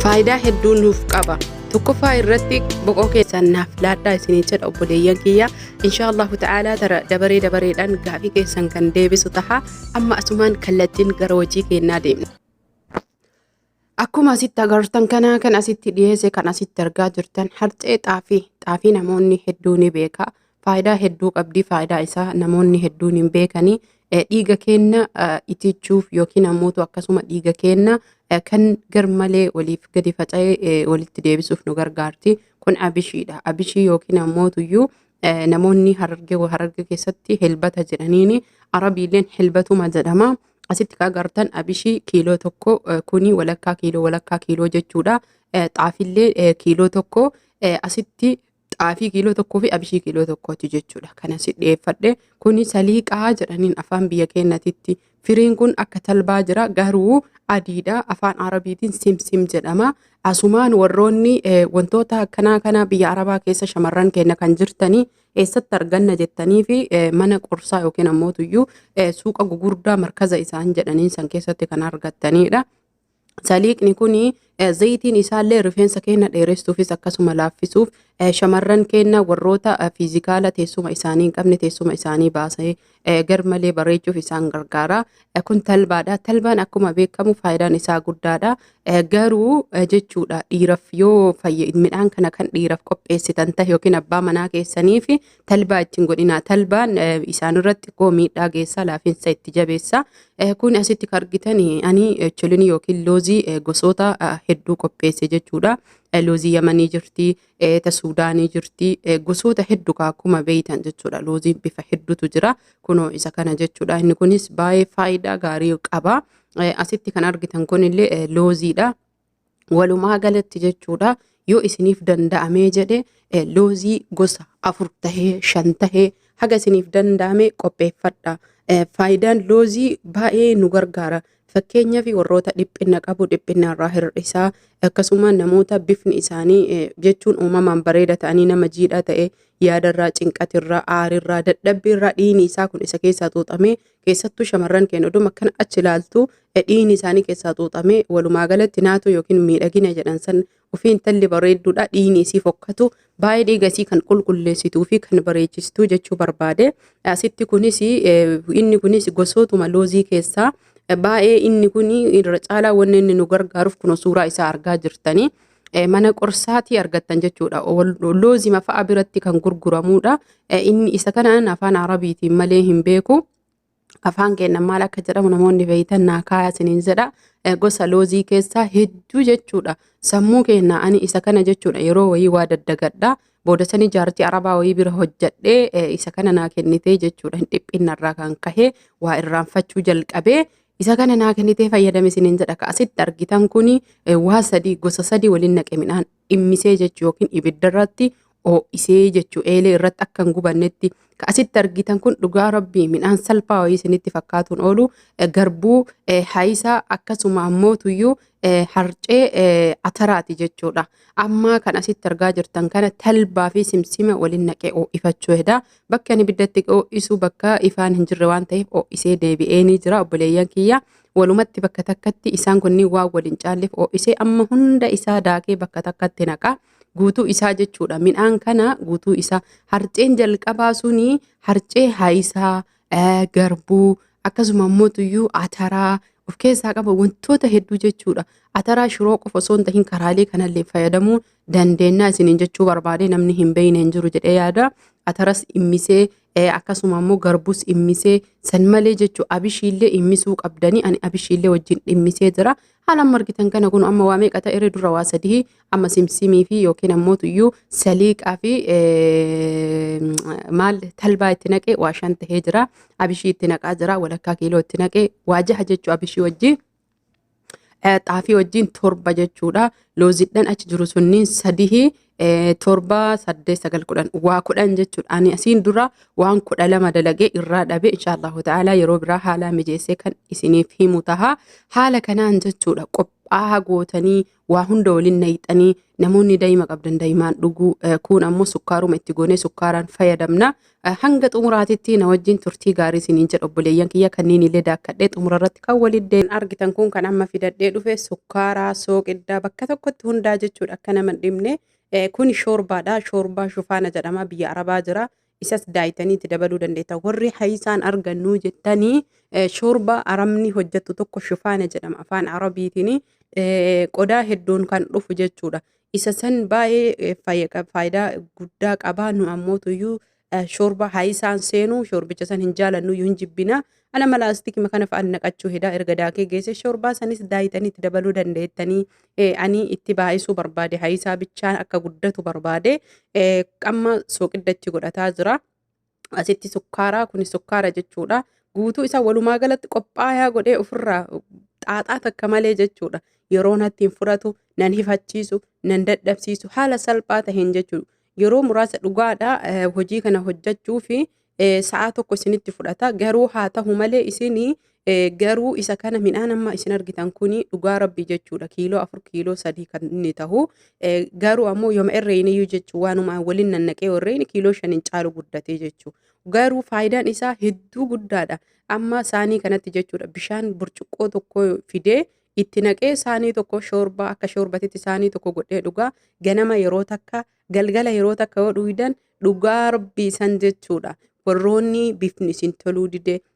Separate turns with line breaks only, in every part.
Faayidaa hedduu nuuf qaba. Tokkoffaa irratti boqoo keessan naaf laadhaa isinii jedha obboleeyyan kiyya. Inshaallahu ta'aalaa tara dabaree dabareedhaan gaafii keessan kan deebisu taha. Amma asumaan kallattiin gara hojii keennaa deemna. Akkuma asitti agartan kana kan asitti dhiyeesse kan asitti argaa jirtan harcee xaafii xaafii namoonni hedduu ni beeka. faayidaa hedduu qabdi. Faayidaa isaa namoonni hedduun hin beekani. Eh, Dhiiga keenna eh, itichuuf yookiin ammootu akkasuma dhiiga keenna eh, kan garmalee waliif gadi faca'ee eh, walitti deebisuuf nu gargaarti. Kun abishiidha. Abishii yookiin ammootuyyuu eh, namoonni hararge hararge keessatti helbata jedhaniini arabiilleen helbatuma jedhama. Asitti kan agartan abishii kiiloo tokko eh, kuni walakkaa kiiloo walakkaa kiiloo jechuudha. Eh, Xaafillee eh, kiiloo tokko eh, asitti xaafii kiiloo tokkoo fi abishii kiiloo tokkooti jechuudha. Kana si dhiyeeffadhe kuni saliiqaa jedhaniin afaan biyya keenyatitti. Firiin kun akka talbaa jira garuu adiidha. Afaan Arabiitiin simsim jedhama. Asumaan warroonni eh, wantoota akkanaa kana biyya Arabaa keessa shamarran keenya kan jirtanii eessatti arganna jettanii fi eh, mana qorsaa yookiin ammootuyyuu eh, suuqa gugurdaa markaza isaan jedhaniin san keessatti kan argattanidha. Saliiqni kun zayitiin isaallee rifeensa keenya dheeressuufis akkasuma laaffisuuf shamarran keenya warroota fiizikaala teessuma isaanii hin qabne teessuma isaanii baasee garmalee bareechuuf isaan gargaara. Kun talbaadha. Talbaan akkuma beekamu faayidaan isaa guddaadha. Garuu jechuudha dhiiraf yoo midhaan kana kan dhiiraf qopheessitan ta'e yookiin abbaa manaa keessaniif Talbaa ittiin godhinaa. Talbaan isaanirratti xiqqoo miidhaa geessaa laafinsa itti jabeessa. Kun asitti kan argitan ani cholini yookiin loozii gosoota hedduu qopheesse jechuudha. Loozii Yamanii jirti, ta Suudaanii jirti, gosoota hedduu akkuma beeytan jechuudha. Looziin bifa hedduutu jira. Kunoo isa kana jechuudha. Inni kunis baay'ee faayidaa gaarii qaba. Asitti kan argitan kunillee looziidha. Walumaa galatti jechuudha yoo isiniif danda'amee jedhe eh, loozii gosa afur tahee shan tahee haga isiniif danda'ame qopheeffadha. Eh, Faayidaan loozii baay'ee nu gargaara. Fakkeenyaaf warroota dhiphina qabu dhiphina irraa hir'isaa akkasuma namoota bifni isaanii eh, jechuun uumamaan bareeda ta'anii nama jiidhaa ta'e yaadarraa cinqatirraa aarirraa dadhabbiirraa dhiini isaa kun isa keessaa xuuxamee keessattuu shamarran keenya oduma akkana achi ilaaltu dhiini isaanii keessaa xuuxamee walumaa galatti naatoo yookiin miidhagina jedhan san ofii intalli bareedduudha dhiini isii fokkatu baay'ee dhiiga isii kan qulqulleessituu fi kan bareechistu jechuu barbaade asitti kunis inni kunis gosootuma loozii keessaa baay'ee inni kun irra caalaa wanni inni nu gargaaruuf kun suuraa isaa argaa jirtanii. eh, mana qorsaatii argattan jechuudha. Wal- Loozima fa'a biratti kan gurguramuudha. Eh, Inni isa kanaan afaan Arabiitiin malee hin beeku. afaan keenya maal akka jedhamu namoonni beeytan naa kaaya isiniin jedha Eh, gosa loozii keessaa hedduu jechuudha sammuu keenya ani isa kana jechuudha yeroo wayii waa daddagadha booda sanii jaartii arabaa wayii bira hojjadhee eh, isa kana naa kennitee jechuudha hin dhiphinna irraa kan kahee waa irraanfachuu jalqabee Isa kana naa kennitee fayyadame isiniin jedha ka asitti argitan kun waa sadii gosa sadii waliin naqe midhaan dhimmisee jechuu yookiin ibidda irratti oo'isee jechuu eelee irratti akka hin gubannetti ka asitti argitan kun dhugaa rabbii midhaan salphaa wayii isinitti fakkaatuun oolu garbuu haayisaa akkasuma ammoo tuyyuu eh, harcee eh, ataraati jechuudha. Ammaa kan asitti argaa jirtan kana talbaa fi simsima waliin naqee ho'ifachuu hedaa. Bakka ani ibiddatti ho'isu bakka ifaan hin jirre waan ta'eef ho'isee deebi'ee ni jira obboleeyyan kiyya. Walumatti bakka takkatti isaan kunniin waan waliin caalleef ho'isee amma hunda isaa daakee bakka takkatti naqaa. guutuu isaa jechuudha. Midhaan kana guutuu isaa harceen jalqabaa suni harcee haayisaa eh, garbuu akkasuma immoo tuyyuu ataraa of keessaa qaba wantoota hedduu jechuudha. Ataraa shiroo qofa osoo hin tahin karaalee kanallee fayyadamuu dandeenya isiniin jechuu barbaade namni hin beekne hin jiru jedhee yaada. Ataras immisee eh, akkasuma immoo garbuus immisee san malee jechuu abishiillee immisuu qabdanii ani abishiillee wajjin dhimmisee jira. Haala amma argitan kana kun amma waa meeqa ta'e dura waa sadii amma simsimii fi yookiin ammoo tuyyuu saliiqaa fi maal talbaa itti naqee waa shan ta'ee jira. Abishii itti naqaa jira walakkaa kiiloo itti naqee waa jaha jechuu abishii wajjin. Xaafii wajjin torba jechuudha. Loozidhaan achi jiru sunniin sadii eh, torba saddeet sagal kudhan waa kudhan jechuudha ani asiin dura waan kudha lama dalagee irraa dhabe inshaallahu ta'ala yeroo biraa haalaa mijeessee kan isiniif himu taha haala kanaan jechuudha qophaa'aa gootanii waa hunda waliin nayxanii namoonni daa'ima qabdan daa'imaan dhuguu eh, kuun ammoo sukkaaruma itti goonee sukkaaraan fayyadamna Hanga xumuraatitti na wajjin turtii gaarii isiniin jedha obboleeyyan kiyya kanneen illee daakkadhee xumura irratti kan waliin deemu. Argitan kun kan amma fidadhee dhufe sukkaaraa, sooqiddaa bakka tokkotti hundaa jechuudha akka nama dhibne. Kun shoorbaadha. Shoorbaa shufaana jedhama biyya Arabaa jira. Isas daayitanii itti dabaluu dandeetta. Warri hayisaan argannuu jettanii shoorbaa aramni hojjettu tokko shufaana jedhama afaan Arabiitiin qodaa hedduun kan dhufu jechuudha. Isa san baay'ee fayya qab- faayidaa guddaa qaba. Nu ammootuyyuu eh, shorba haayisaan seenu shorbicha san hin jaalannuyyuu hin jibbina. Ana mala astikima kana fa'aan naqachuu hedaa erga daakee geesse shorbaa sanis daayitanii itti dabaluu dandeettanii. Eh, ani itti baay'isuu barbaade haayisaa bichaan akka guddatu barbaade eh, qamma sooqidda itti godhataa jira. asitti sukkaaraa kun sukkaara jechuudha. Guutuu isaa walumaa galatti qophaayaa godhee ofirraa xaaxaa takka malee jechuudha. Yeroo natti hin fudhatu, nan hifachiisu, nan dadhabsiisu haala salphaa taheen jechuudha. Yeroo muraasa dhugaadha eh, hojii kana hojjechuu fi eh, sa'a tokko isinitti fudhata. Garuu haa tahu malee isin Eh, garuu isa kana midhaan amma isin argitan kuni dhugaa rabbii jechuudha kiiloo afur kiiloo sadii kan inni tahu Eh, garuu ammoo yoma irreen iyyuu jechuu waanuma waliin nannaqee irreen kiiloo shan hin caalu guddatee jechuu garuu faayidaan isaa hedduu guddaadha amma saanii kanatti jechuudha bishaan burcuqqoo tokko fidee itti naqee saanii tokko shoorbaa akka shoorbatitti saanii tokko godhee dhugaa ganama yeroo takka galgala yeroo takka yoo dhugdan dhugaa rabbii san jechuudha warroonni bifni isin toluu didee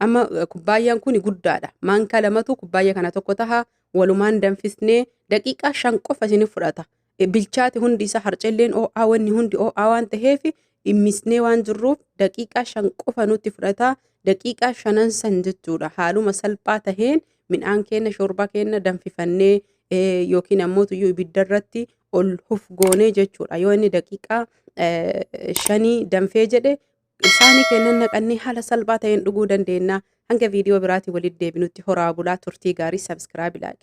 Amma eh, kubbaayyaan kun guddaadha. Maankaa lamatu kubbaayya kana tokko taha walumaan danfisnee daqiiqaa shan qofa isin fudhata. Eh, Bilchaati hundi isaa harcelleen oo'aa wanni hundi oo'aa waan ta'eef dhimmisnee waan jirruuf daqiiqaa shan qofa nutti fudhata. Daqiiqaa shanan san jechuudha. Haaluma salphaa taheen midhaan keenya shoorbaa keenya danfifannee eh, yookiin ammoo tuyyuu ibidda irratti ol hufgoonee jechuudha. Yoo inni daqiiqaa eh, shanii danfee jedhe Isaanii keennan naqannee haala salphaa ta'een dhuguu dandeennaa. Hanga viidiyoo biraatiin walitti deebinutti horaa bulaa, turtii gaarii, subscribe, like.